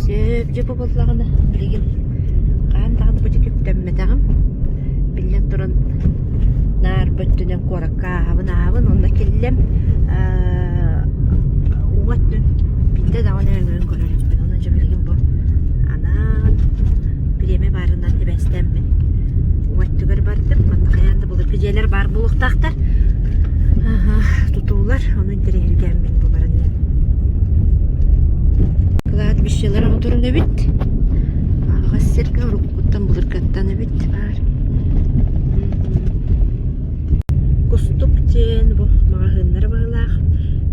Сөп, дьэ бу буоллаҕына билигин хаһан даҕаны бу диэки үктэммэтэҕим. Биллэн туран наарба өттүнэн куоракка ааһабын ааһабын онно киллим аа уҥа өттүн биирдэ даҕаны өҥөйөн көрөр эбиппин. Онон дьэ билигин бу анаан бириэмэ баарынан сибээстэммин уҥа өттүгэр бардым. Манна хайаан да булар күдьиэлэр баар буолуохтаахтар. Аһа, тутуулар. интэриэһиргээммин бу баран иһэн кладбищелар оҕоторун эбит аҕыс сиргэ уруккуттан былыргаттан эбит баар кустук диэн бу маҕаһыыннар быһылаах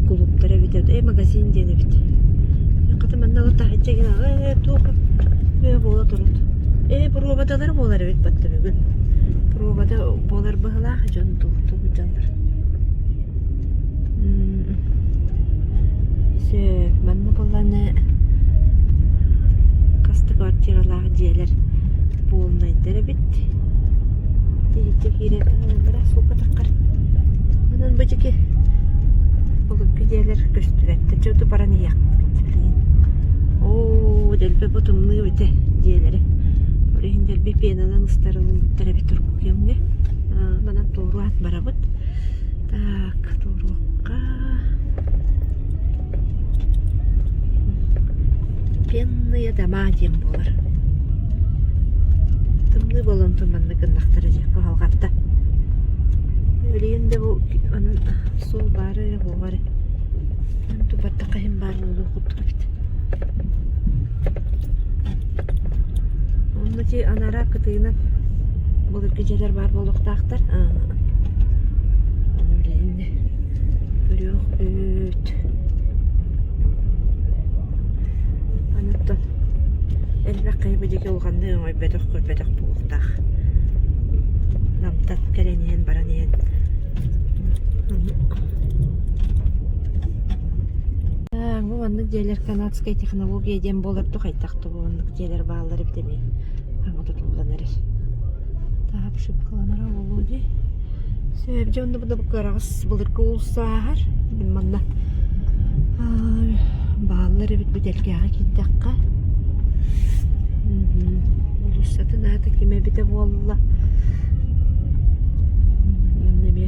кулууптар эбитэ э магазин диэн эбит хата манна ол таһычча гин аҕа э туоха э буола турут э пробадалар буолар эбит батта бүгүн пробада буолар быһылаах дьон туохтук дьоннор Мм сөп. Манна буолланы хас да квартиралаах дьиэлэр буолнайдар эбит. Тириитэ киирэр бара суугатаххар. Онон бу дьики былыргы дьиэлэр көстүбэттэр. Чэ ду баран иһиэхпит билигин. Оо дэлби бу тымныы эбитэ дьиэлэри. Ол иһин дэлби пенанан ыстарылыыбыттар эбит урукку кэмҥэ. Манан туору ат барабыт. Так, туоруохха. Пенные дома диэн буолар. Тымныы болонтон манна гыннахтара дии кыһалҕатта. Билигин да бу онон суол баара эрэ буолар. Эн тупаттаха иһин баар буолуох курдук эбит. Онно ити анараа кытыына былыргы дьиэлэр баар буолуохтаахтар. Аны билэ иннэ үрүөх үүт. Аны оттон элбэх киһи биһиги улаханнык өҥөйбөтөх-көрбөтөх буолуохтаах. Намтан кэлэн иһэн баран иһэн Маннык дьиэлэр канадскай технология диэн буолар да хайдах да маннык дьиэлэр бааллар эбит эмиэ хаҥа тутуллан эрэр. Таһат шипкаланара болу дии. Сөбдө онно бу да кыраҕас былыргы улсааһар. Манна бааллар эбит бүтэлгээҕи кииттэххэ. Улуссатын аата кимэ эбитэ буолла. Манна эмиэ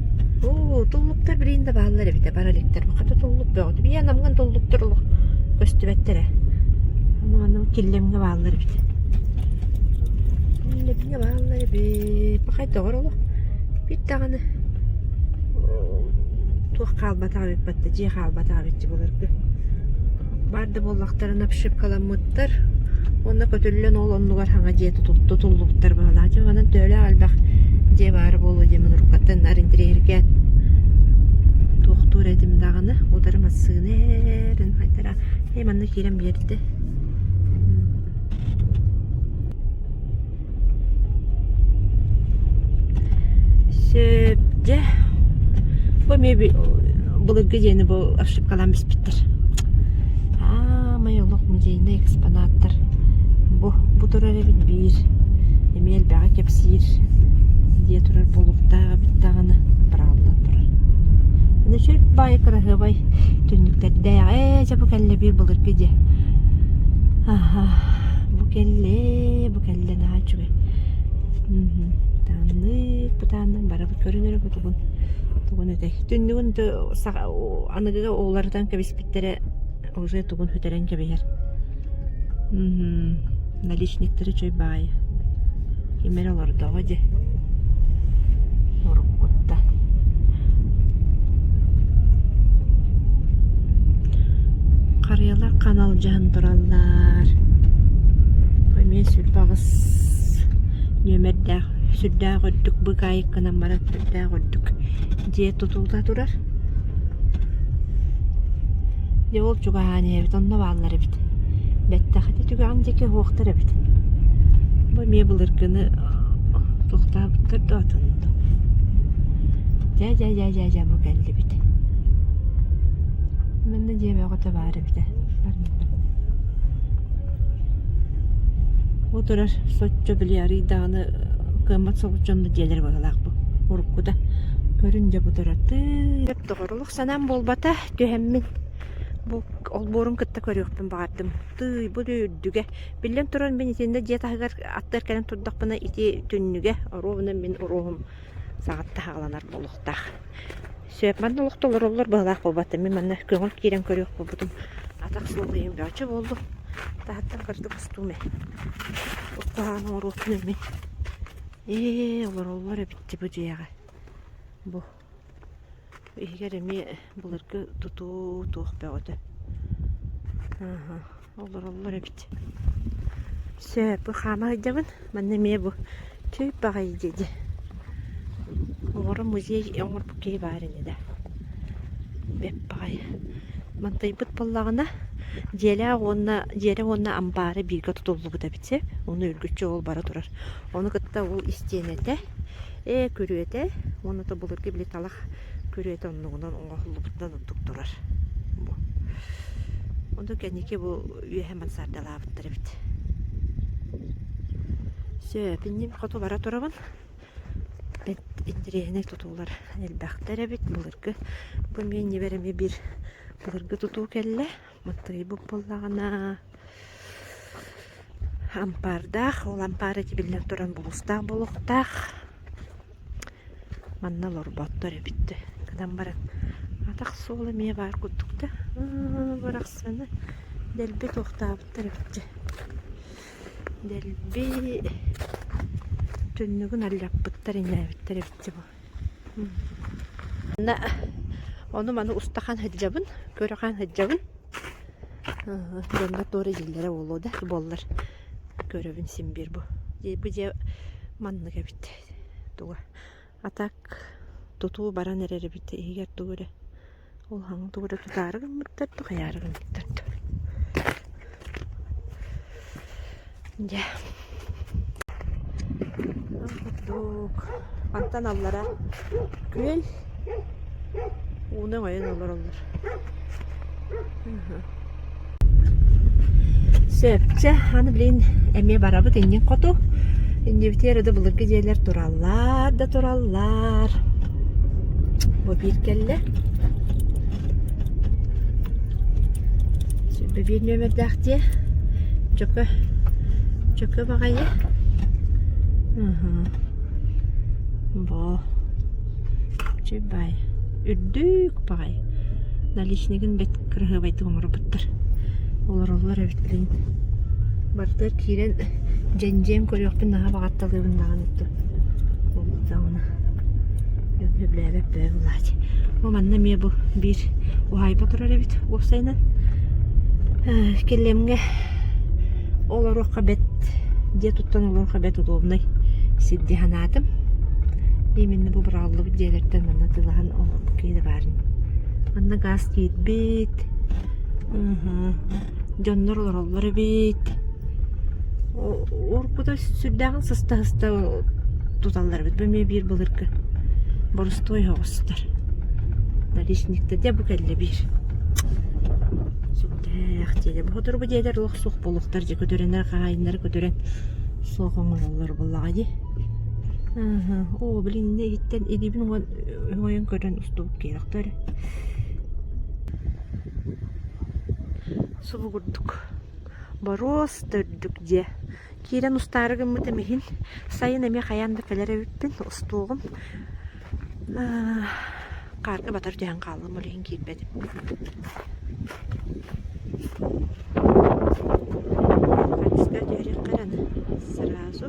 Оо, туллуктар билигин да бааллар эбит ээ, бар иликтэр. Хата туллук бөҕөтө. Ийээ, намҥан туллуктар олох көстүбэттэр ээ. Аны манна киллэмҥэ бааллар эбит. Киллэмҥэ бааллар эбит. Пахай доҕор олох бит даҕаны туох хаалбатах эбит батта, дьиэ хаалбатах эбит дьэ былыргы. Бар да буоллахтарына обшипкаламмыттар уонна көтүллэн ол оннугар саҥа дьиэ тутуллубуттар быһыылаах. Дьэ манан Төөлөөх элбэх дьиэ баара буолуо диэн мунурукаттан наар интэриэһиргээн туохтуур этим даҕаны утары массыына эрэн хайдара ээ манна киирэн биэрдэ Сөп, дьэ, бу эмиэ би- былыргы диэни бу ошибкалаан биспиттэр. Аамай олох музейнай экспонаттар бу, бу турар эбит биир, эмиэ элбэҕи кэпсиир дии турар буолуохтаах эбит даҕаны бырааллан турар. Аны чөл баайы кыраһыабай түннүктэрдээх, ээ, дьэ бу кэллэ биир былыргы дьэ. Аһа, бу кэллээ, бу кэллэ наһаа үчүгэй тааннык бытааннан бара көрүн эрэ бу тугун тугун этэй түннүгүн аныгыга уларытан кэбиспиттэрэ уже тугун сүтэрэн кэбиһэр наличниктары үчүгэй баайы ким эрэ олордоҕо дии Уруккута харыйалар хан алдьаһан тураллар, эмиэ сүрбэ аҕыс нүөмэрдээх сүрдээх үрдүк быкаайыккынан баран сүрдээх үрдүк дьиэ тутулла турар. Дьэ ол чугаһаан иһэбит, онно бааллар эбит. Бэттэхитэ түгэҕин диэки иһиэхтэр эбит. Бу эмиэ былыргыны тохтообуттар дуо атын да. Дьэ-дьэ-дьэ-дьэ бу кэллибит. Манна дьиэ бөҕөтө баар эбитэ. Бу турар соччо били арыый даҕаны кыаммат соҕус дьон да дьиэлэрэ быһыылаах бу. Уруккута көрүн дьэ бу турар тыыт доҕорулух Санаам буолбата, түһэммин. Бу олбуорун кытта көрүөхпүн баҕардым. Тыый, бу дьэ үрдүгэ. Биллэн турар, мин итиэннэ дьиэ таһыгар аттыгар кэлэн турдахпына, ити түннүгэ, оруобуна мин уруоһум саҕаттан саҕаланар буолуохтаах. Сөп, манна олох да олороллор быһалаах буолбата. Мин манна көҥүл киирэн көрүөх буолбутум. Атах суох ийэм чөчө буоллу. Таһыттан кырдык устуум ээ. Бу куһаҕан оҥоруохпун мин. Ээ, олороллор эбит бу дьиэҕэ. Бу Иһигэр эмиэ былыргы тутуу туох бөҕөтө олороллор эбит Сөп, хаама сылдьабын манна эмиэ бу Түү баҕайы дии Оҕоро музей оҥорбут киһи баар ини да Бэп баҕайы Мантыйбыт буоллаҕына дьиэлээх уонна дьиэрэ уонна амбаара бииргэ тутуллубут эбит сэп Ону үргүччү ол бара турар Ону кытта ол истиэнэтэ Ээ, күрүөтэ уонна то былыргы били талах күрүөтэ оннугунан оҥоһуллубутунан ордук турар бу. Ону кэнники бу үөһэ мансардалаабыттар эбит. Сөп, инним хоту бара турабын. Бэт интэриэһинэй тутуулар элбэхтэр эбит. Былыргы бу миэнньибэр эмиэ бир былыргы тутуу кэллэ. Мыттыйбыт буоллаҕына ампаардаах, ол ампаар этибиллэн туран булустаах буолуохтаах. Манна олорботтор эбит. Гынан баран атах суол эмиэ баар курдук да. Барахсаны дэлби туохтаабыттар эбит. Дэлби түннүгүн аллаппыттар инээбиттэр эбит бу. Манна ону-маны устахан сылдьабын, көрө-хаан сылдьабын. Дьоҥҥо туора иһиллэрэ буолуо да буоллар, көрөбүн син биир бу. Бу дьиэ маннык эбит туга. А так тутуу баран эрэр эбит иһигэр тугу эрэ Улахан тугу да тутаары гыммыттар да, хайаары гыммыттар да Дьэ ол курдук Антан аллара күөл ууну өҥөйөн олороллор Сөпкө, аны билин эмиэ барабыт иннин хоту. Иннибитигэр да былыргы дьиэлэр тураллар да тураллар. Бу биир кэллэ. Сүүрбэ биир нүөмэрдээх дьиэ. Чөкө, чөкө баҕайы. Бо. Чүбай. үрдүк баҕайы наличнигын бэт кыраһыабайдык оҥорбуттар олороллор эбит билигин барыта киирэн дьэндьиэн көрүөхпүн наһаа баҕатталыыбын даҕаны ол даҕаны дьон сөбүлээбэт бөбө былаачы бу манна эмиэ бу биир уһаайба турар эбит уопсайынан кэлэмҥэ олоруохха бэт дьиэ туттан ылыахха бэт удобнай сир дии санаатым именно бу бырааллыбыт дьиэлэртэн манна тылаһан бу киһи да баарын манна гаас тиийбит дьоннор олороллор эбит уруккута сүрдээҕин сыста-сыста туталлар эбит бу эмиэ биир былыргы борустуой соҕустар наличниктар дьэ бу кэллэ биир Ээх, дьиэгэ сотору дьиэлэр лах суох буолуохтар дьэ көтөрөнөр хаһаайыннары көтөрөн суох оҥоһуллар буоллаҕа дии. Аһа, оо билин иннэ игиттэн илиибин уҥан ойон көрөн устубут киирэхтэр. Субу курдук. Боруос төрдүк дьэ. Киирэн устаары гыммытым иһин, сайын эмиэ хайаан да кэлэр эбиппин, устуоҕум. Хаарга батар түһэн хааллым, ол иһин киирбэтим. Хатиска түһэриэххэ эрэ аны сразу.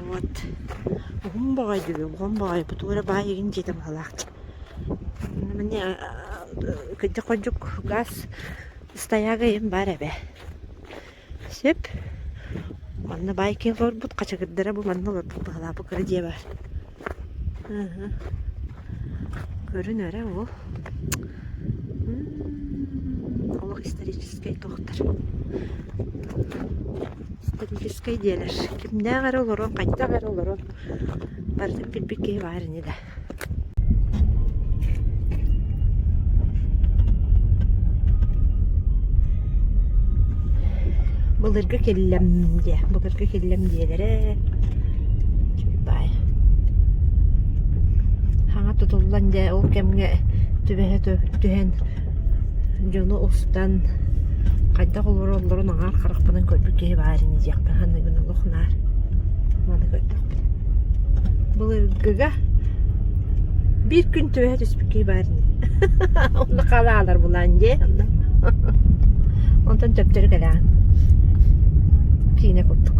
Вот. Уһун боҕой диби, уһун боҕой. Бу тугу эрэ баай игин дьиэтэ баһылаахча. Маны кырдьык-ходьук газ ыстайаага иһин баар эбэ. Сөп. Онно байкинг олорбут хачагырдара бу манна олорбут баһылаапы кыра дьиэ баар. Ыһы. Көрүн эрэ о. Олох историческай туохтар. Историческай диэлэр. Кимнээх эрэ олорон, хайдах эрэ олорон. Барытын билбит киһи баар ини да. Былыргы киллэм диэ, былыргы киллэм диэлэрэ чиги баай. Хаҥа тутуллан дьэ ол кэмҥэ түбэһэ түһэн Дьону устан хайдах олороллорун аҥаар харахпынан көрбүт киһи баар ини диэхпин ханна гын олох наар маны көрдөхпүт. Былыргыга биир күн түбэһэ түспүт киһи баар ини онно хаалаалар булаан дьэ онно онтон төптөрү кэлэҕин киинэ курдук